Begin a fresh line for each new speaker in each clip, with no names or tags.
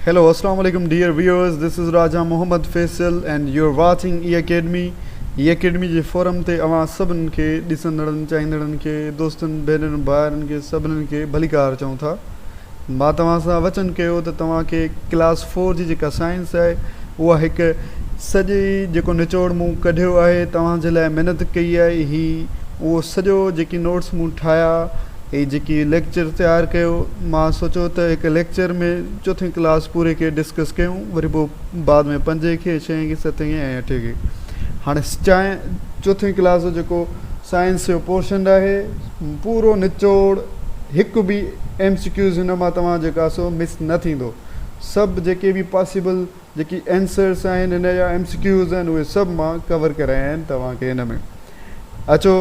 Hello اسلام عليڪم dear viewers this is Raja Muhammad Faisal and you are watching A academy A academy جي forum تي اوهان سڀن کي ڏسندڙن چاهيندڙن کي دوستن ڀينرن ڀائرن کي سڀنن کي ڀليڪار چئون ٿا مان توهان سان وچن ڪيو ته توهان کي ڪلاس فور جي جيڪا سائنس آهي اها هڪ سڄي جيڪو نچوڙ مون ڪڍيو آهي توهان جي لاء محنت ڪئي آهي هي اهو سڄو جيڪي نوٽس مون ٺاهيا هي جيڪي ليڪچر تيار ڪيو مان سوچيو ته هڪ ليڪچر ۾ چوٿين ڪلاس پوري کي ڊسڪس ڪيون وري پوء بعد ۾ پنجين کي ڇهين کي ستين کي ۽ اٺين کي هاڻي چاهي چوٿين ڪلاس جو جيڪو سائنس جو پورشن آهي پورو نچوڙ هڪ به ايم سي ڪيوز هن مان توهان جيڪا سو مس نه ٿيندو سڀ جيڪي به پاسيبل جيڪي Answers آهن هن جا MCQs آهن اهي سڀ مان ڪور ڪرايا آهن توهان کي هن ۾ اچو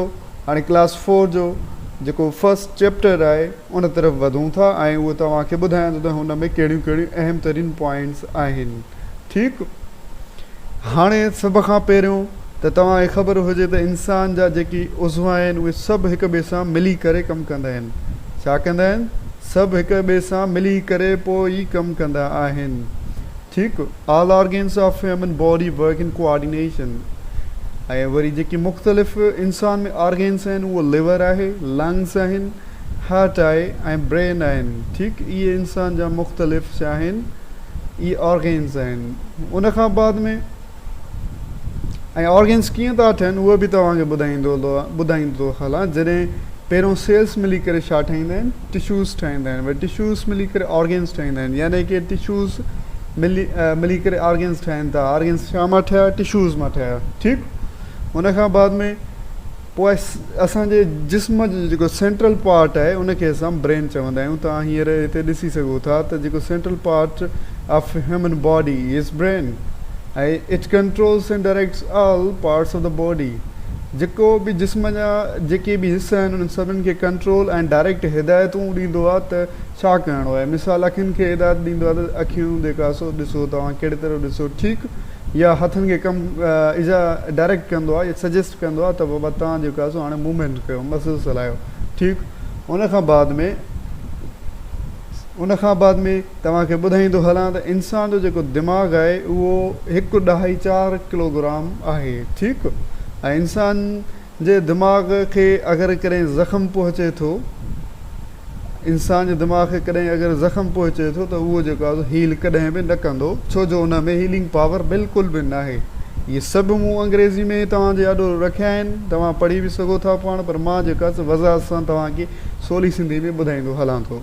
هاڻي ڪلاس فور جو جيڪو First Chapter آهي ان طرف وڌون ٿا ۽ اهو توهان کي ٻڌايان ٿو ته هن ۾ ڪهڙيون ڪهڙيون اهم ترين پوائنٽس آهن ٺيڪ هاڻي سڀ کان پهريون ته توهان کي خبر هجي ته انسان جا جيڪي عضوا آهن اهي سڀ هڪ ٻئي سان ملي ڪري ڪم ڪندا آهن ڇا ڪندا آهن؟ سڀ هڪ ٻئي سان ملي ڪري پوء ئي ڪم ڪندا آهن. ٺيڪ، all organs of human body work in coordination. ۽ وري جيڪي مختلف انسان ۾ آرگنز آهن اهو ليور آهي، لنگز آهن، هارٽ آهي ۽ برين آهن. ٺيڪ، اهي انسان جا مختلف ڇا آهن؟ اهي آرگنز آهن. ان کان بعد ۾. ۽ آرگنز ڪيئن ٿا ٺهن اهو به توهان کي ٻڌائيندو ٿو هلان جڏهن پهريون سيلز ملي ڪري ڇا ٺاهيندا آهن ٽشوز ٺاهيندا آهن وري ٽشوز ملي ڪري آرگنز ٺاهيندا آهن يعني ڪي ٽشوز ملي ڪري آرگنز ٺاهين ٿا آرگنز ڇا مان ٺهيا ٽشوز مان ٺهيا ٺيڪ ان کان بعد ۾ پوء اسان جي جسم جو جيڪو سينٽرل پارٽ آهي ان کي اسان برين چوندا آهيون توهان هينئر هتي ڏسي سگهو ٿا ته جيڪو central part of human body is brain ۽ it controls and directs all parts of the body جيڪو به جسم جا جيڪي به حصا آهن انهن سڀني کي ڪنٽرول ۽ ڊائريڪٽ هدايتون ڏيندو آهي ته ڇا ڪرڻو آهي مثال اکين کي هدايت ڏيندو آهي ته اکيون جيڪا سو ڏسو توهان ڪهڙي طرف ڏسو ٺيڪ يا هٿن کي ڪم ايذا ڊائريڪٽ ڪندو آهي يا سجيسٽ ڪندو آهي ته بابا توهان جيڪو آهي سو هاڻي موومينٽ ڪيو مسلز هلايو ٺيڪ ان کان بعد ۾ ان کان بعد ۾ توهان کي ٻڌائيندو هلان ته انسان جو جيڪو دماغ آهي اهو هڪ ڏهائي چار ڪلوگرام آهي ٺيڪ ۽ انسان جي دماغ کي اگر ڪڏهن زخم پهچي ٿو انسان جي دماغ کي ڪڏهن اگر زخم پهچي ٿو ته اهو جيڪو آهي هيل ڪڏهن به نه ڪندو ڇو جو ان ۾ هيلنگ پاور بلڪل به ناهي اهي سڀ مون انگريزي ۾ توهان جي آڏو رکيا آهن توهان پڙهي به سگهو ٿا پاڻ پر مان جيڪو آهي سو وضاحت سان توهان کي سولي سنڌي ۾ ٻڌائيندو هلان ٿو.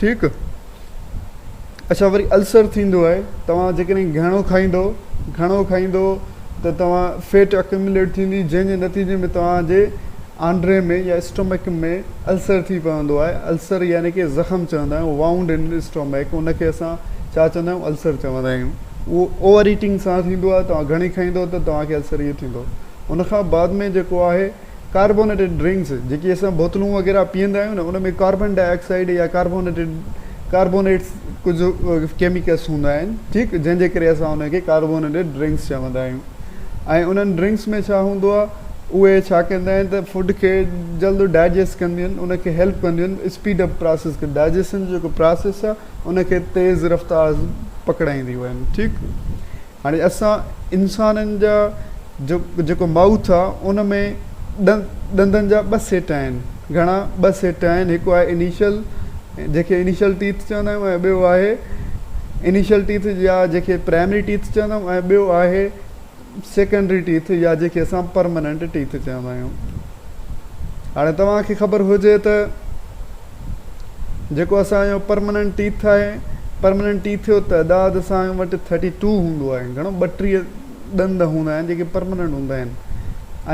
ٺيڪ اچا وري السر ٿيندو آهي توهان جيڪڏهن گهڻو کائيندو گهڻو کائيندو ته توهان فيٽ اڪيومليٽ ٿيندي جنهن جي نتيجي ۾ توهان جي آنڊري ۾ يا اسٽومڪ ۾ السر ٿي پوندو آهي السر يعني ڪي زخم چوندا آهيون وائونڊ ان اسٽومڪ ان کي اسان ڇا چوندا آهيون السر چوندا آهيون اهو اوور ايٽنگ سان ٿيندو آهي توهان گهڻي کائيندو ته توهان کي السر اهو ٿيندو ان کان بعد ۾ جيڪو آهي ڪاربونيٽيڊ ڊرنڪس، جيڪي اسان بوتلون وغيره پيئندا آهيون نه ان ۾ ڪاربن ڊاء آڪسائيڊ يا ڪاربونيٽيڊ ڪاربونيٽس ڪجهه ڪيميڪلس هوندا آهن ٺيڪ جنهن جي ڪري اسان انهن کي ڪاربونيٽيڊ ڊرنڪس چوندا آهيون ۽ انهن ڊرنڪس ۾ ڇا هوندو آهي اهي ڇا ڪندا آهن ته فوڊ کي جلد ڊائجسٽ ڪنديون آهن ان کي هيلپ ڪنديون آهن اسپيڊ اپ پراسيس کي ڊائجسشن جو جيڪو پراسيس آهي ان کي تيز رفتار پڪڙائينديون آهن ٺيڪ هاڻي اسان انسانن جا جو جيڪو مائوٿ آ ان ۾ ڏن ڏندن جا ٻه سيٽ آهن. گهڻا ٻه سيٽ آهن هڪ آهي انيشل جنهن کي انيشل ٽيٿ چوندا آهيون ۽ ٻيو آهي انيشل ٽيٿ يا جنهن کي پرائمري ٽيٿ چوندا آهيون ۽ ٻيو آهي سيڪنڊري ٽيٿ يا جنهن کي اسان پرماننٽ ٽيٿ چوندا آهيون. هاڻي توهان کي خبر هجي ته. جيڪو اسان جو پرمننٽ ٽيٿ آهي. پرمننٽ ٽيٿ جو تعداد اسان وٽ ٿرٽي ٽو هوندو آهي. گهڻو ٻٽيهه ڏند هوندا آهن جيڪي پرمننٽ هوندا آهن.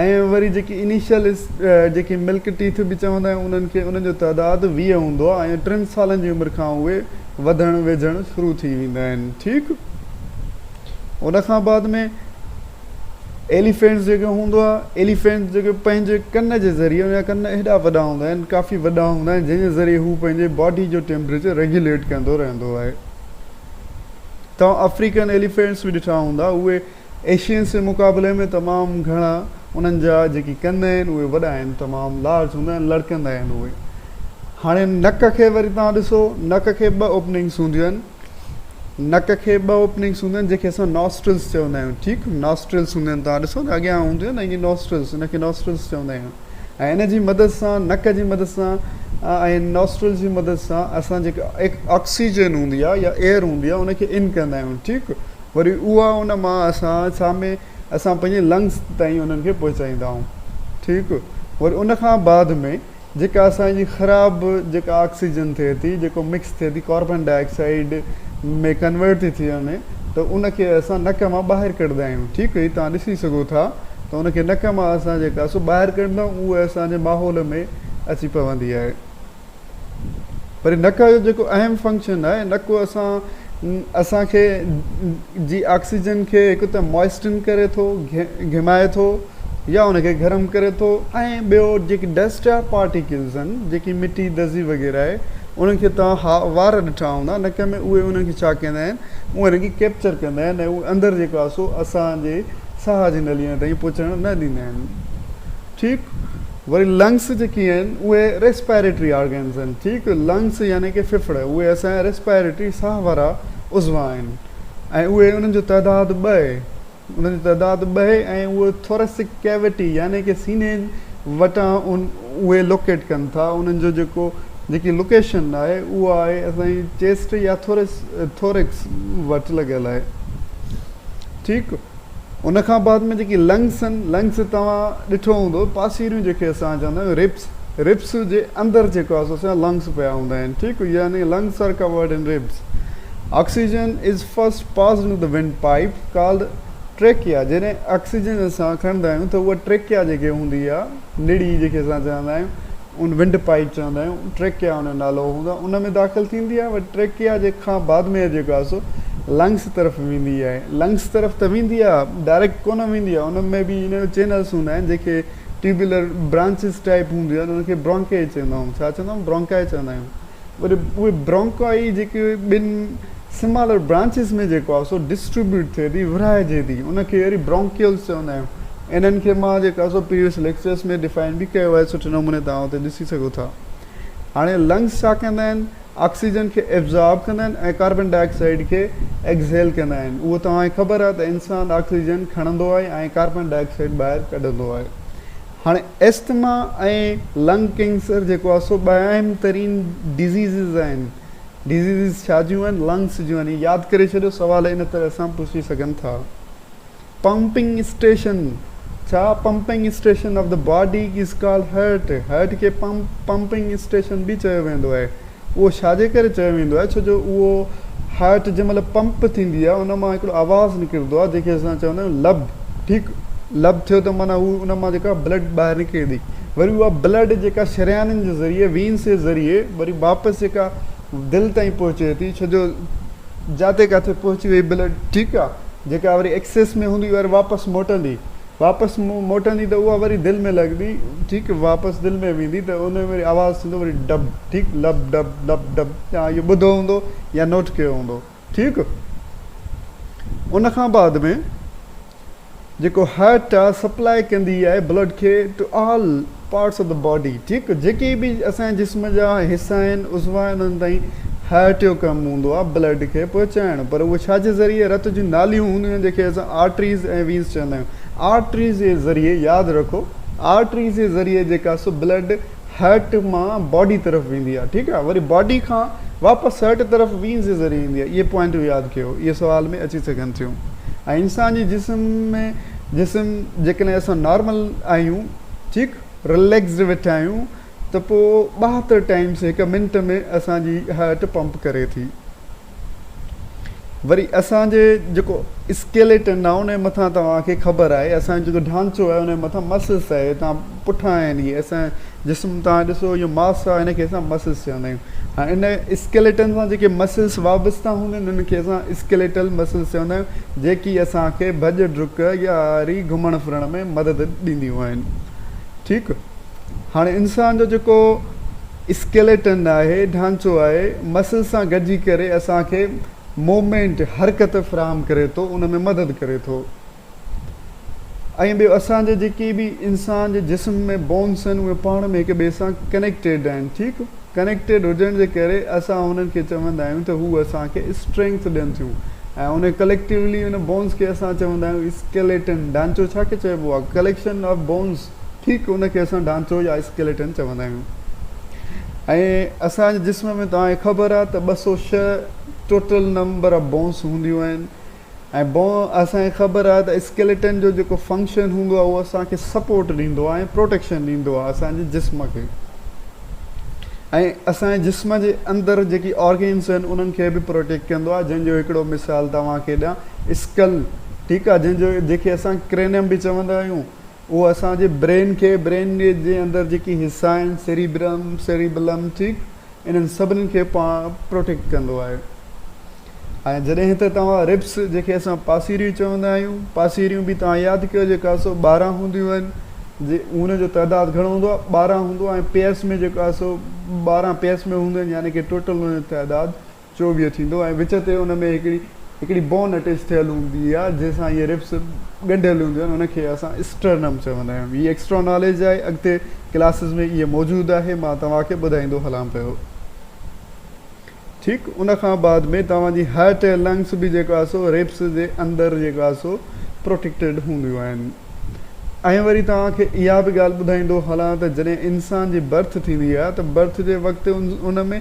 ۽ وري جيڪي انيشل جنهن کي ملڪ ٽيٿ به چوندا آهيون انهن کي انهن جو تعداد ويهه هوندو آهي ۽ ٽن سالن جي عمر کان اهي وڌڻ ويجهڻ شروع ٿي ويندا آهن ٺيڪ ان کان بعد ۾ ايليفينٽس جيڪي هوندو آهي ايليفينٽس جيڪي پنهنجي ڪن جي ذريعي ان جا ڪن ايڏا وڏا هوندا آهن ڪافي وڏا هوندا آهن جنهن جي ذريعي هو پنهنجي باڊي جو ٽيمپريچر ريگيوليٽ ڪندو رهندو آهي توهان آفريڪن ايليفينٽس به ڏٺا هوندا اهي ايشينس جي مقابلي ۾ تمام گهڻا انهن جا جيڪي ڪن آهن اهي وڏا آهن تمام لارج هوندا آهن لڙڪندا آهن اهي هاڻي نڪ کي وري توهان ڏسو نڪ کي ٻه اوپننگس هونديون آهن نڪ کي ٻه اوپننگس هونديون آهن جنهن کي اسان ناسٽرلز چوندا آهيون ٺيڪ ناسٽرلز هوندا آهن توهان ڏسو ته اڳيان هونديون آهن اهي ناسٽرلز ان کي ناسٽرلز چوندا آهيون ۽ ان جي مدد سان نڪ جي مدد سان ۽ ناسٽرل جي مدد سان اسان جيڪا آڪسيجن هوندي آهي يا ايئر هوندي آهي ان کي ان ڪندا آهيون ٺيڪ وري اها ان مان اسان ڇا ۾ اسان پنهنجي لنگس تائين انهن کي پهچائيندا آهيون ٺيڪ وري ان کان بعد ۾ جيڪا اسان جي خراب جيڪا آڪسيجن ٿئي ٿي جيڪو مڪس ٿئي ٿي ڪاربان ڊاء آڪسائيڊ ۾ ڪنورٽ ٿي ٿي وڃي ته ان کي اسان نڪ مان ٻاهر ڪڍندا آهيون ٺيڪ هي توهان ڏسي سگهو ٿا ته ان کي نڪ مان اسان جيڪا سو ٻاهر ڪڍندا آهيون اهي اسان جي ماحول ۾ اچي پوندي آهي. وري نڪ جو جيڪو اهم فنڪشن آهي نڪ اسان اسان کي جي آڪسيجن کي هڪ ته موئسٽن ڪري ٿو گهمائي ٿو يا ان کي گرم ڪري ٿو ۽ ٻيو جيڪي ڊسٽ جا پارٽيڪلز آهن جيڪي مٽي دزي وغيره آهي انهن کي توهان ها وار ڏٺا هوندا نڪ ۾ اهي انهن کي ڇا ڪندا آهن اهي ان کي ڪيپچر ڪندا آهن ۽ اهو اندر جيڪو آهي سو اسان جي ساهه جي نلين تائين پهچڻ نه ڏيندا آهن ٺيڪ وري لنگس جيڪي آهن اهي ريسپيريٽري آرگنز آهن ٺيڪ لنگس يعني ڪي ڦڦڙ اهي اسان جا ريسپيريٽري ساهه وارا عضوا آهن ۽ اهي انهن جو تعداد ٻه انهن جو تعداد ٻه ۽ اهي ٿوريسڪ ڪيوٽي يعني ڪي سيني وٽان اهي لوڪيٽ ڪن ٿا انهن جو جيڪو جيڪي لوڪيشن آهي اها آهي اسان جي چيسٽ يا ٿوريڪس وٽ لڳل آهي ٺيڪ ان کان بعد ۾ جيڪي لنگس آهن، لنگس توهان ڏٺو هوندو پاسيريون جيڪي اسان چوندا آهيون ربس، ربس جي اندر جيڪو آهي سو سيان لنگس پيا هوندا آهن ٺيڪ يعني lungs are covered in ribs. Oxygen is first passed into the wind pipe called trachea جڏهن آڪسيجن اسان کڻندا آهيون ته اها ٽريڪيا جيڪي هوندي آهي نڙي جيڪي اسان چوندا آهيون ان ونڊ پائيپ چوندا آهيون ٽريڪيا ان جو نالو هوندو آهي ان ۾ داخل ٿيندي آهي ۽ ٽريڪيا جي کان بعد ۾ جيڪو آهي سو لنگس طرف ويندي آهي لنگس طرف ته ويندي آهي ڊائريڪٽ ڪونه ويندي آهي ان ۾ به ان جو چينلس هوندا آهن جنهن کي ٽيوبولر برانچز ٽائيپ هونديون آهن ان کي برانڪائي چوندا آهيون ڇا چوندا آهيون برانڪائي چوندا آهيون وري اهي برانڪائي جيڪي ٻن سمالر برانچز ۾ جيڪو آهي سو ڊسٽريبيوٽ ٿئي ٿي ورهائجي ٿي ان کي وري برانڪيولز چوندا آهيون انهن کي مان جيڪا سو پريويس ليڪچرز ۾ ڊفائن به ڪيو آهي سٺي نموني توهان اتي ڏسي سگهو ٿا هاڻي لنگز ڇا ڪندا آهن آڪسيجن کي ابزارب ڪندا آهن ۽ ڪاربن ڊاء آڪسائيڊ کي ايڪزهيل ڪندا آهن اهو توهان کي خبر آهي ته انسان آڪسيجن کڻندو آهي ۽ ڪاربن ڊاء آڪسائيڊ ٻاهر ڪڍندو آهي هاڻي ايسٿما ۽ لنگ ڪينسر جيڪو آهي سو ٻه اهم ترين ڊزيزز آهن. ڊزيزز ڇا جون آهن؟ لنگس جون آهن. ياد ڪري ڇڏيو سوال ان طرح سان پڇي سگهن ٿا. پمپنگ اسٽيشن ڇا pumping station of the body is called heart. Heart کي پمپنگ اسٽيشن به چيو ويندو آهي. اهو ڇاجي ڪري چيو ويندو آهي؟ ڇو جو اهو هارٽ جنهن مهل پمپ ٿيندي آهي ان مان هڪڙو آواز نڪرندو آهي جنهن کي اسان چوندا آهيون لب ٺيڪ لب ٿيو ته معنيٰ هو ان مان جيڪا بلڊ ٻاهر نڪري ٿي وري اها بلڊ جيڪا شريانن جي ذريعي وينس جي ذريعي وري واپس جيڪا دل تائين پهچي ٿي ڇو جو جاتي ڪاٿي پهچي وئي بلڊ ٺيڪ آهي جيڪا وري ايڪسس ۾ هوندي وري واپس موٽندي واپس مون موٽندي ته اها وري دل ۾ لڳندي ٺيڪ واپس دل ۾ ويندي ته ان ۾ وري آواز ٿيندو وري ڊب ٺيڪ لب ڊب لب ڊب توهان اهو ٻڌو هوندو يا نوٽ ڪيو هوندو ٺيڪ ان کان بعد ۾ جيڪو هارٽ آ سپلاء ڪندي آهي بلڊ کي to all Parts of the body، ٺيڪ، جيڪي به اسان جي جسم جا حصا آهن، عضوا آهن، انهن تائين هارٽ جو ڪم هوندو آهي بلڊ کي پهچائڻ، پر اهي ڇا جي ذريعي رت جون ناليون هونديون آهن جيڪي اسان آرٽريز ۽ وينز چوندا آهيون آرٽريز جي ذريعي ياد رکو آرٽريز جي ذريعي جيڪا سو بلڊ هارٽ مان باڊي طرف ويندي آهي ٺيڪ آهي وري باڊي کان واپس هارٽ طرف وينز جي ذريعي ايندي آهي اهي پوائنٽون ياد ڪيو اهي سوال ۾ اچي سگهن ٿيون ۽ انسان جي جسم ۾ جسم جيڪڏهن اسان نارمل آهيون ٺيڪ رليڪسڊ ويٺا آهيون ته پوء ٻهاتر ٽائيمز هڪ منٽ ۾ اسان جي هارٽ پمپ ڪري ٿي وري اسان جي جيڪو اسڪيليٽن آهي ان جي مٿان توهان کي خبر آهي اسان جو جيڪو ڍانچو آهي ان جي مٿان مسلس آهي توهان پٺان آهن اهي اسان جسم توهان ڏسو اهو ماس آهي ان کي اسان مسلس چوندا آهيون ۽ ان اسڪيليٽن سان جيڪي مسلس وابسته هوندا آهن انهن کي اسان اسڪيليٽل مسلس چوندا آهيون جيڪي اسان کي ڀڄ ڊڪ يا ري گهمڻ ڦرڻ ۾ مدد ڏينديون آهن ٺيڪ هاڻي انسان جو جيڪو اسڪيليٽن آهي ڍانچو آهي مسلس سان گڏجي ڪري اسان کي موومينٽ حرڪت فراهم ڪري ٿو ان ۾ مدد ڪري ٿو ۽ ٻيو اسان جي جيڪي به انسان جي جسم ۾ بونس آهن اهي پاڻ ۾ هڪ ٻئي سان ڪنيڪٽيڊ آهن ٺيڪ ڪنيڪٽيڊ هجڻ جي ڪري اسان انهن کي چوندا آهيون ته هو اسان کي اسٽرينگٿ ڏين ٿيون ۽ ان ڪليڪٽيولي ان بونس کي اسان چوندا آهيون اسڪيليٽن ڍانچو ڇا کي چئبو آهي ڪليڪشن آف بونس ٺيڪ ان کي اسان ڍانچو يا اسڪيليٽن چوندا آهيون ۽ اسان جي جسم ۾ توهان کي خبر آهي ته 206 ٽوٽل نمبر آف بونس هونديون آهن ۽ بون اسان کي خبر آهي ته اسڪيليٽن جو جيڪو فنڪشن هوندو آهي اهو اسان کي سپورٽ ڏيندو آهي ۽ پروٽيڪشن ڏيندو آهي اسان جي جسم کي ۽ اسان جي جسم جي اندر جيڪي آرگنس آهن انهن کي به پروٽيڪٽ ڪندو آهي جنهن جو هڪڙو مثال توهان کي ڏيان اسڪل ٺيڪ آهي جنهن جو جيڪي اسان ڪرينم به چوندا آهيون اهو اسان جي برين کي، برين جي اندر جيڪي حصا آهن، سيريبرم، Cerebellum، ٺيڪ، انهن سڀني کي پاڻ پروٽيڪٽ ڪندو آهي. ۽ جڏهن ته توهان ربس، جنهن کي اسان پاسيريون چوندا آهيون، پاسيريون به توهان ياد ڪيو جيڪو آهي سو ٻارهن هونديون آهن. جي انهن جو تعداد گهڻو هوندو آهي، ٻارهن هوندو آهي ۽ پيس ۾ جيڪو آهي سو ٻارهن پيس ۾ هونديون آهن، يعني ڪي ٽوٽل انهن جو تعداد چوويهه ٿيندو ۽ وچ تي ان ۾ هڪڙي هڪڙي بون اٽيچ ٿيل هوندي آهي جنهن سان اهي ربس ڳنڍيل هونديون آهن ان کي اسان اسٽرنم چوندا آهيون هي ايڪسٽرا ناليج آهي اڳتي ڪلاسز ۾ اهي موجود آهي مان توهان کي ٻڌائيندو هلان پيو ٺيڪ ان کان بعد ۾ توهان جي هارٽ ۽ لنگس به جيڪو آهي سو ربس جي اندر جيڪو آهي سو پروٽيڪٽيڊ هونديون آهن ۽ وري توهان کي اها به ڳالهه ٻڌائيندو هلان ته جڏهن انسان جي برٿ ٿيندي آهي ته برٿ جي وقت ان ۾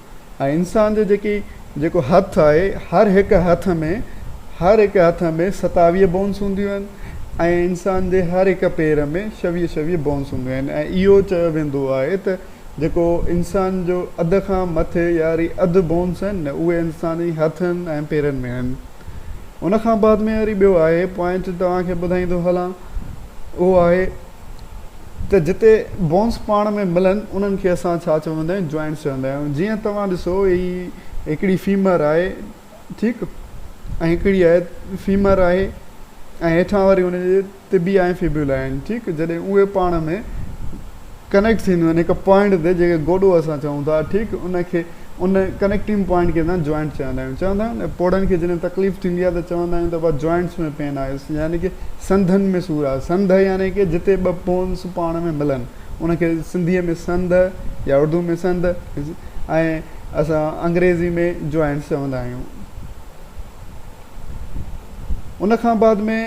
۽ انسان جي جيڪي جيڪو هٿ آهي هر هڪ هٿ ۾ هر هڪ هٿ ۾ ستاويهه بونس هونديون آهن ۽ انسان جي هر هڪ پير ۾ شويهه شويهه بونس هونديون آهن ۽ اهو چيو ويندو آهي ته جيڪو انسان جو اڌ کان مٿي ياري اڌ بونس آهن نه اهي انسان جي هٿن ۽ پيرن ۾ آهن ان کان بعد ۾ ياري ٻيو آهي پوائنٽ توهان کي ٻڌائيندو هلان اهو آهي ته جتي بونس پاڻ ۾ ملن انهن کي اسان ڇا چوندا آهيون جوائنٽس چوندا آهيون جيئن توهان ڏسو هي هڪڙي فيمر آهي ٺيڪ ۽ هڪڙي آهي فيمر آهي ۽ هيٺان وري ان جي طبي آهن فيبيولا آهن ٺيڪ جڏهن اهي پاڻ ۾ ڪنيڪٽ ٿينديون آهن هڪ پوائنٽ تي جيڪي گوڏو اسان چئون ٿا ٺيڪ ان کي ان ڪنيڪٽنگ پوائنٽ کي اسان جوائنٽ چوندا آهيون چوندا آهيون نه پوڙهن کي جڏهن تڪليف ٿيندي آهي ته چوندا آهيون ته ابا جوائنٽس ۾ پين آيس يعني ڪي سنڌن ۾ سور آهي سنڌ يعني ڪي جتي ٻه بونس پاڻ ۾ ملن ان کي سنڌي ۾ سنڌ يا اردو ۾ سنڌ ۽ اسان انگريزي ۾ جوائنٽس چوندا آهيون ان کان بعد ۾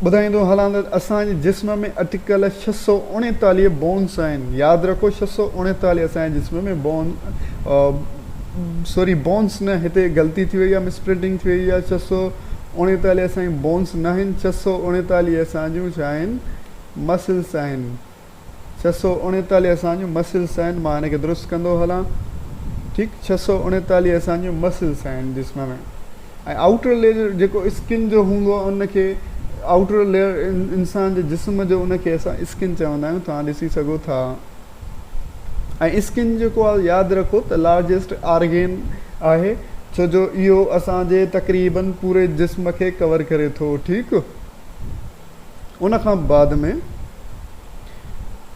ٻڌائيندو هلان ته اسان جي جسم ۾ اٽڪل ڇهه سؤ اڻيتاليهه بونس آهن ياد رکو ڇهه سؤ اڻيتاليهه اسان جي جسم ۾ بون سوري بونس نه هتي غلطي ٿي وئي آهي مس پرنٽنگ ٿي وئي آهي ڇهه سؤ اڻيتاليهه اسان جون بونس ناهن ڇهه سؤ اڻيتاليهه اسان جون ڇا آهن مسلس آهن ڇهه سؤ اڻيتاليهه اسان جون مسلس آهن مان هن کي درست ڪندو هلان ٺيڪ ڇهه سؤ اڻيتاليهه اسان جون مسلس آهن جسم ۾ ۽ آئوٽر ليئر جيڪو اسڪن جو هوندو آهي ان کي آئوٽر ليئر انسان جي جسم جو ان کي اسان اسڪن چوندا آهيون توهان ڏسي سگهو ٿا ۽ اسڪن جيڪو آهي ياد رکو ته لارجسٽ آرگين آهي ڇو جو اهو اسان جي تقريبن پوري جسم کي ڪور ڪري ٿو ٺيڪ ان کان بعد ۾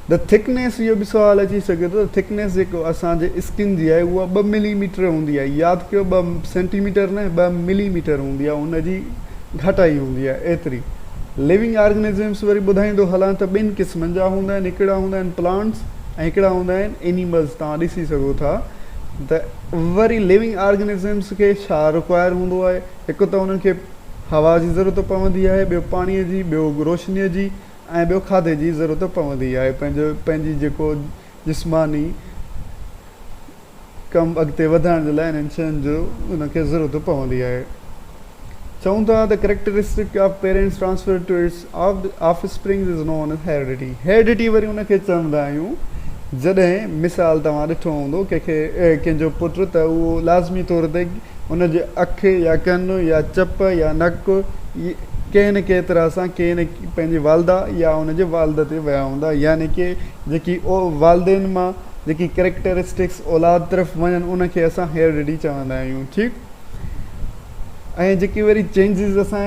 The Thickness اهو به سوال اچي سگهي ٿو ته Thickness جيڪو اسان جي اسڪن جي آهي اها ٻه ملي ميٽر هوندي آهي ياد ڪيو ٻه سينٽي ميٽر نه ٻه ملي ميٽر هوندي آهي ان جي گهٽائي هوندي آهي ايتري Living Organisms وري ٻڌائيندو هلان ته ٻن قسمن جا هوندا آهن هڪڙا هوندا آهن Plants ۽ هڪڙا هوندا آهن Animals توهان ڏسي سگهو ٿا ته وري Living Organisms کي ڇا Require هوندو آهي هڪ ته انهن کي هوا جي ضرورت پوندي آهي ٻيو پاڻي جي ٻيو روشني جي ۽ ٻيو کاڌي جي ضرورت پوندي آهي پنهنجو پنهنجي جيڪو جسماني ڪم اڳتي وڌائڻ جي لاء انهن شين جو انهن کي ضرورت پوندي آهي چون ٿا ته characteristic of parents transfer to its offsprings is known as heredity, heredity وري ان کي چوندا آهيون، جڏهن مثال توهان ڏٺو هوندو ڪنهن کي ڪنهن جو پٽ ته اهو لازمي طور تي ان جي اک يا ڪن يا چپ يا نڪ ڪنهن نه ڪنهن طرح سان ڪنهن نه پنهنجي والده يا ان جي والد تي ويا هوندا يعني ڪي جيڪي والدين مان جيڪي ڪريڪٽرسٽڪس اولاد طرف وڃن ان کي اسان هيرڊٽي چوندا آهيون ٺيڪ ۽ جيڪي وري چينجز اسان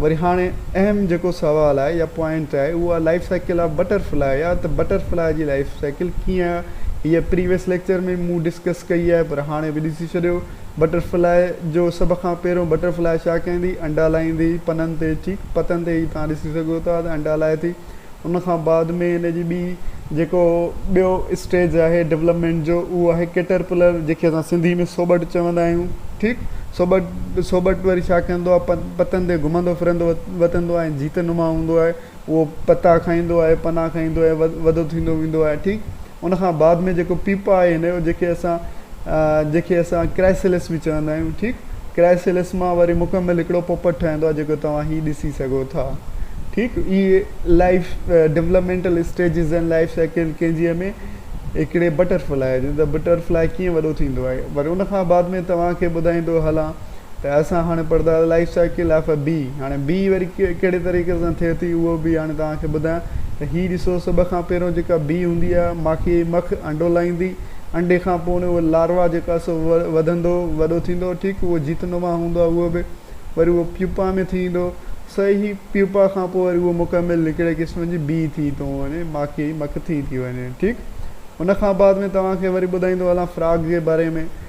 وري هاڻي اهم جيڪو سوال آهي يا پوائنٽ آهي اهو آهي life cycle of butterfly يا ته بٽر فلاء جي لائيف سائيڪل ڪيئن آهي هيء پريويس ليڪچر ۾ مون ڊسڪس ڪئي آهي پر هاڻي به ڏسي ڇڏيو بٽر فلاء جو سڀ کان پهريون بٽر فلاء ڇا ڪندي انڊا لائيندي پنن تي ٺيڪ پتن تي هي توهان ڏسي سگهو ٿا ته انڊا لائي ٿي ان کان بعد ۾ ان جي ٻي جيڪو ٻيو اسٽيج آهي ڊولپمينٽ جو اهو آهي ڪيٽر پلر جنهن کي اسان سنڌي ۾ سوٻٽ چوندا آهيون ٺيڪ سوٻٽ سوٻٽ وري ڇا ڪندو آهي پ پتن تي گهمندو ڦرندو وتندو آهي جيت نما هوندو آهي اهو پتا کائيندو آهي پنا کائيندو آهي وڏو ٿيندو ويندو آهي ٺيڪ ان کان بعد ۾ جيڪو پيپا آهي هن جو جيڪي اسان جيڪي اسان ڪرائسيلس به چوندا آهيون ٺيڪ ڪرائسيلس مان وري مڪمل هڪڙو پوپٽ ٺهندو آهي جيڪو توهان هي ڏسي سگهو ٿا ٺيڪ هي life developmental stages ۽ life cycle ڪنهن جي ۾ هڪڙي بٽر فلائي جي ته بٽر فلائي ڪيئن وڏو ٿيندو آهي وري ان کان بعد ۾ توهان کي ٻڌائيندو هلان ته اسان هاڻي پڙهنداسين life cycle of A B هاڻي بي وري ڪهڙي طريقي سان ٿئي ٿي اهو به هاڻي توهان کي ٻڌايان ته هي ڏسو سڀ کان پهريون جيڪا بي هوندي آهي ماکي جي مک انڊو لائيندي انڊي کان پوء اهو لاروا جيڪو آهي سو وڌندو وڏو ٿيندو ٺيڪ اهو جيت نما هوندو آهي اهو به وري اهو پيوپا ۾ ٿي ايندو سو هي پيوپا کان پوء وري اهو مڪمل هڪڙي قسم جي بي ٿي ٿو وڃي ماکي جي مک ٿي ٿي وڃي ٺيڪ ان کان بعد ۾ توهان کي وري ٻڌائيندو هلان فراگ جي باري ۾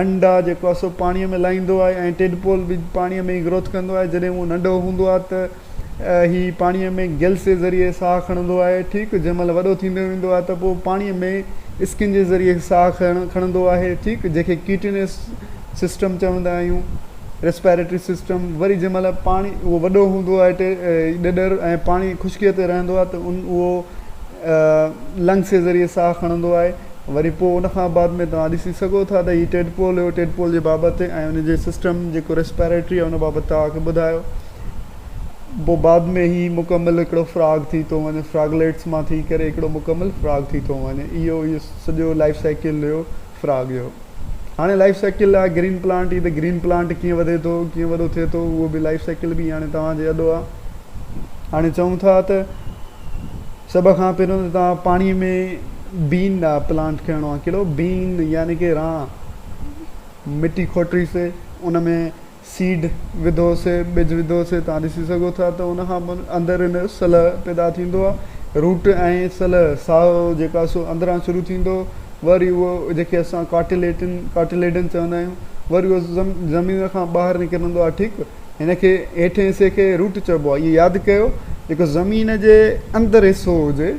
انڊا جيڪو آهي سو پاڻيء ۾ لاهيندو آهي ۽ ٽيڊپول به پاڻيء ۾ ئي گروٿ ڪندو آهي جڏهن اهو ننڍو هوندو آهي ته هي پاڻيء ۾ گلس جي ذريعي ساهه کڻندو آهي ٺيڪ جنهن مهل وڏو ٿيندو ويندو آهي ته پوء پاڻيء ۾ اسڪن جي ذريعي ساهه کڻ کڻندو آهي ٺيڪ جنهن کي ڪيٽينس سسٽم چوندا آهيون ريسپيريٽري سسٽم وري جنهن مهل پاڻي اهو وڏو هوندو آهي ڏڏر ۽ پاڻي خشڪيء تي رهندو آهي ته ان اهو لنگس جي ذريعي ساهه کڻندو آهي وري پوء ان کان بعد ۾ توهان ڏسي سگهو ٿا ته هي ٽيڊپول هيو ٽيڊپول جي بابت ۽ ان جي سسٽم جيڪو ريسپيريٽري آهي ان بابت توهان کي ٻڌايو پوء بعد ۾ هي مڪمل هڪڙو فراگ ٿي ٿو وڃي فراگليٽس مان ٿي ڪري هڪڙو مڪمل فراگ ٿي ٿو وڃي اهو اهو سڄو لائف سائيڪل هيو فراگ جو هاڻي لائف سائيڪل لاء گرين پلانٽ هي ته گرين پلانٽ ڪيئن وڌي ٿو ڪيئن وڏو ٿئي ٿو اهو به لائف سائيڪل به هاڻي توهان جي اڏو آهي هاڻي چئون ٿا ته سڀ کان پهريون ته توهان پاڻي ۾ بين ڏا پلانٽ کڻڻو آهي ڪهڙو بين يعني ڪي ران مٽي کوٽيسي ان ۾ سيڊ وڌوسي ٻج وڌوسي توهان ڏسي سگهو ٿا ته ان کان پوء اندر ان جو سلهه پيدا ٿيندو آهي روٽ ۽ سلهه سائو جيڪو آهي سو اندران شروع ٿيندو وري اهو جيڪي اسان ڪاٽليٽن ڪاٽليڊن چوندا آهيون وري اهو زم زمين کان ٻاهر نڪرندو آهي ٺيڪ هن کي هيٺين حصي کي روٽ چئبو آهي اهو ياد ڪيو جيڪو زمين جي اندر حصو هجي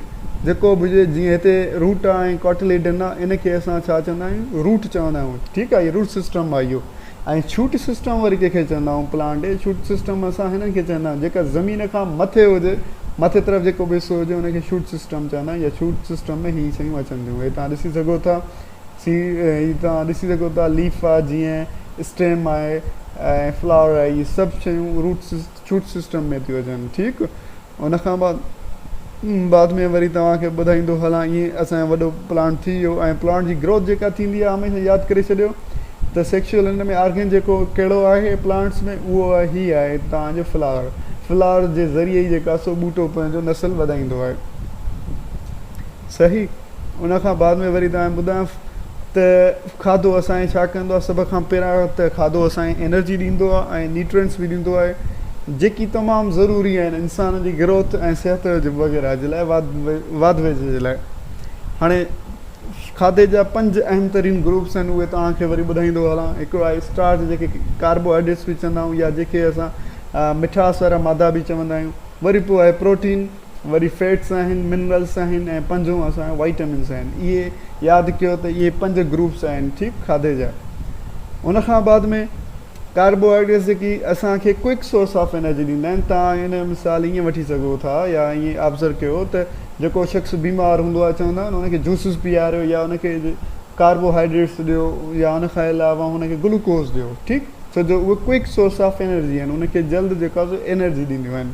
جيڪو به هجي جيئن هتي روٽ آهي ۽ ڪاٽليڊن آهي ان کي اسان ڇا چوندا آهيون روٽ چوندا آهيون ٺيڪ آهي اهو روٽ سسٽم آهي اهو ۽ ڇوٽ سسٽم وري ڪنهن کي چوندا آهيون پلانٽ ڇوٽ سسٽم اسان هنن کي چوندا آهيون جيڪا زمين کان مٿي هجي مٿي طرف جيڪو به حصو هجي ان کي ڇوٽ سسٽم چوندا آهيون يا ڇوٽ سسٽم ۾ هي شيون اچن ٿيون هي تان ڏسي سگهو ٿا سي هي توهان ڏسي سگهو ٿا ليف آهي جيئن اسٽيم آهي ۽ فلاور آهي هي سڀ شيون روٽ شوٽ سسٽم ۾ ٿيون اچن ٺيڪ ان کان بعد بعد ۾ وري توهان کي ٻڌائيندو هلان ائين اسانجو وڏو پلانٽ ٿي ويو ۽ پلانٽ جي گروٿ جيڪا ٿيندي آهي هميشه ياد ڪري ڇڏيو ته سيڪشل هن ۾ آرگن جيڪو ڪهڙو آهي پلانٽس ۾ اهو آهي هي آهي توهان جو فلاور فلاور جي ذريعي ئي جيڪا سو ٻوٽو پنهنجو نسل وڌائيندو آهي صحيح ان کان بعد ۾ وري توهان کي ٻڌايان ته کاڌو اسان کي ڇا ڪندو آهي. سڀ کان پهريان ته کاڌو اسان کي انرجي ڏيندو آهي ۽ نيوٽرينٽس به ڏيندو آهي جيڪي تمام ضروري آهن انسان جي گروٿ ۽ صحت وغيره جي لاء واڌ ويجهه جي لاء. هاڻي کاڌي جا پنج اهم ترين گروپس آهن اهي توهان کي وري ٻڌائيندو هلان. هڪڙو آهي اسٽارچ جنهن کي ڪاربو هائيڊريٽس به چوندا آهيون يا جنهن کي اسان مٺاس وارا مادا به چوندا آهيون. وري پوء آهي پروٽين. وري فيٽس آهن، منرلس آهن ۽ پنجون اسان جا وائٽامنس آهن. اهي ياد ڪيو ته اهي پنج گروپس آهن ٺيڪ کاڌي جا. ان کان بعد ۾ ڪاربوهائيڊريٽس جيڪي اسان کي ڪوئڪ سورس آف انرجي ڏيندا آهن تان ان جو مثال ائين وٺي سگهو ٿا يا ائين آبزرو ڪيو ته جيڪو شخص بيمار هوندو آهي چوندا آهن ان کي جوسز پياريو يا ان کي ڪاربوهائيڊريٽس ڏيو يا ان کان علاوه ان کي گلوڪوز ڏيو ٺيڪ ڇو جو اهي ڪوئڪ سورس آف انرجي آهن ان کي جلد جيڪا سو انرجي ڏينديون آهن.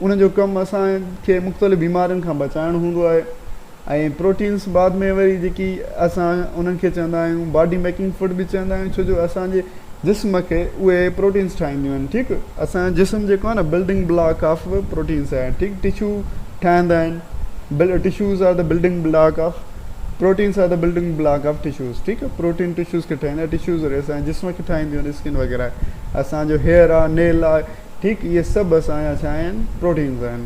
ان جو ڪم اسان کي مختلف بيمارين کان بچائڻ هوندو آهي ۽ پروٽينس بعد ۾ وري جيڪي اسان انهن کي چوندا آهيون باڊي ميڪنگ فوڊ به چوندا آهيون ڇو جو اسان جي جسم کي اهي پروٽينس ٺاهينديون آهن ٺيڪ اسان جي جسم جيڪو آهي نه بلڊنگ بلاڪ آف پروٽينس آهي ٺيڪ ٽشو ٺاهيندا آهن بل tissues are the building block of proteins are the building block of tissues ٺيڪ آهي پروٽين ٽشوز کي ٺاهيندا ٽشوز وري اسان جي جسم کي ٺاهينديون آهن اسڪن وغيره اسانجو هيئر آهي نيل آهي ٺيڪ اهي سڀ اسان جا ڇا آهن پروٽينز آهن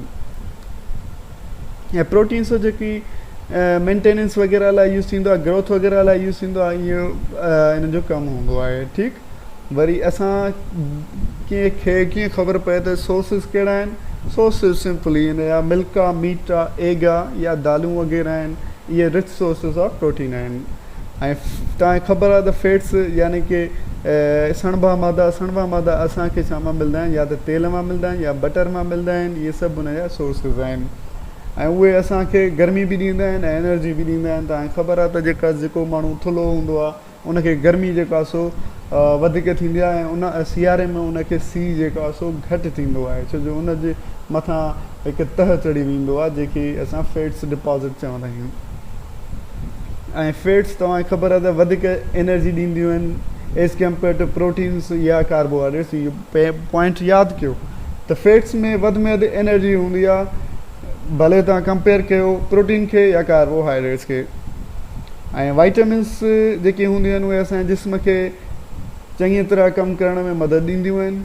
۽ پروٽينز جيڪي مينٽيننس وغيره لاء يوز ٿيندو آهي گروٿ وغيره لاء يوز ٿيندو آهي اهو انهن جو ڪم هوندو آهي ٺيڪ وري اسان ڪنهن کي ڪيئن خبر پئي ته سورسز ڪهڙا آهن سورسز سمپلي آهن يا ملڪ آهي ميٽ آهي ايگ آهي يا دالون وغيره آهن اهي رچ سورسز آف پروٽين آهن توهان کي خبر آهي ته فيٽس يعني ڪي سڻڀا مادا سڻڀا مادا اسان کي ڇا مان ملدا آهن يا ته تيل مان ملدا آهن يا بٽر مان ملدا آهن اهي سڀ ان جا سورسز آهن ۽ اهي اسان کي گرمي به ڏيندا آهن ۽ انرجي به ڏيندا آهن توهان کي خبر آهي ته جيڪا جيڪو ماڻهو ٿلهو هوندو آهي ان کي گرمي جيڪا سو وڌيڪ ٿيندي آهي ۽ ان سياري ۾ ان کي سي جيڪا آهي سو گهٽ ٿيندو آهي ڇو جو ان جي مٿان هڪ تهه چڙهي ويندو آهي جيڪي اسان فيٽس ڊپازٽ چوندا آهيون ۽ فيٽس توهان کي خبر آهي ته وڌيڪ انرجي ڏينديون آهن ايز ڪمپيئر ٽو پروٽينس يا ڪاربوهائيڊريٽس اهو پوائنٽ ياد ڪيو ته فيٽس ۾ وڌ ۾ وڌ انرجي هوندي آهي ڀلي توهان ڪمپيئر ڪيو پروٽين کي يا ڪاربوهائيڊريٽس کي ۽ وائٽامنس جيڪي هونديون آهن اهي اسان جي جسم کي چڱي طرح ڪم ڪرڻ ۾ مدد ڏينديون آهن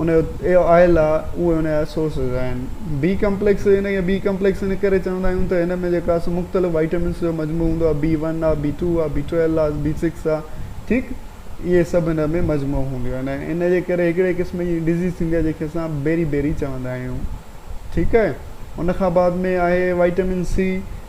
ان جي اي آء لا اهي ان جا سورسز آهن. بي ڪمپليڪس ان کي بي ڪمپليڪس ان ڪري چوندا آهيون ته ان ۾ جيڪا سو مختلف وائٽامنس جو مجموعو هوندو آهي بي ون آهي بي ٽو آهي بي ٽويلو آهي بي سڪس آهي ٺيڪ اهي سڀ ان ۾ مجموعو هونديون آهن ۽ ان جي ڪري هڪڙي قسم جي ڊزيز ٿيندي آهي جنهن کي اسان بيري بيري چوندا آهيون ٺيڪ آهي ان کان بعد ۾ آهي وائٽامن سي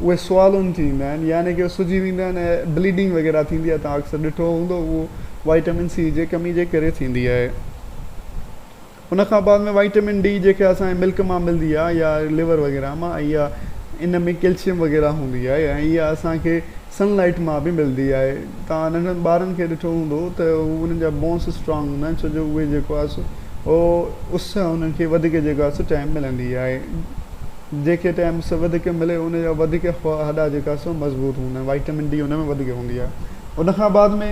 اهي سوالون ٿي ايندا آهن يعني ڪي سجي ويندا آهن ۽ بليڊنگ وغيره ٿيندي آهي توهان اڪثر ڏٺو هوندو اهو وائٽامن سي جي ڪمي جي ڪري ٿيندي آهي ان کان بعد ۾ وائٽامن ڊي جيڪي اسان جي ملڪ مان ملدي آهي يا ليور وغيره مان ۽ يا ان ۾ ڪيلشيم وغيره هوندي آهي ۽ يا اسان کي سن لائٽ مان به ملدي آهي توهان ننڍن ٻارن کي ڏٺو هوندو ته انهن جا بونس اسٽرانگ هوندا آهن ڇو جو اهي جيڪو آهي سو اس انهن کي وڌيڪ جيڪو آهي سو ٽائيم ملندي آهي جيڪي ٽيم سو وڌيڪ ملي ان جا وڌيڪ هڏا جيڪا سو مضبوط هوندا آهن وائٽامن ڊي ان ۾ وڌيڪ هوندي آهي ان کان بعد ۾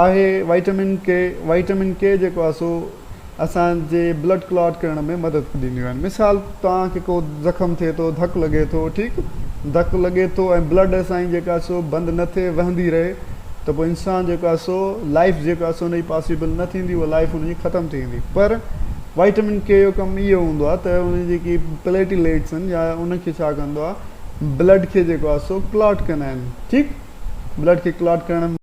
آهي وائٽامن ڪي وائٽامن ڪي جيڪو آهي سو اسان جي بلڊ ڪلاٽ ڪرڻ ۾ مدد ڏينديون آهن مثال توهان کي ڪو زخم ٿئي ٿو ڌڪ لڳي ٿو ٺيڪ ڌڪ لڳي ٿو ۽ بلڊ اسان جي جيڪا سو بند نه ٿئي وهندي رهي ته پوء انسان جيڪو آهي سو لائف جيڪو آهي سو ان جي پاسيبل نه ٿيندي اها لائف ان جي ختم ٿي ويندي پر وائٽمن ڪي جو ڪم اهو هوندو آهي ته ان جي جيڪي پليٽيليٽس آهن يا ان کي ڇا ڪندو آهي بلڊ کي جيڪو آهي سو ڪلاٽ ڪندا آهن ٺيڪ بلڊ کي ڪلاٽ ڪرڻ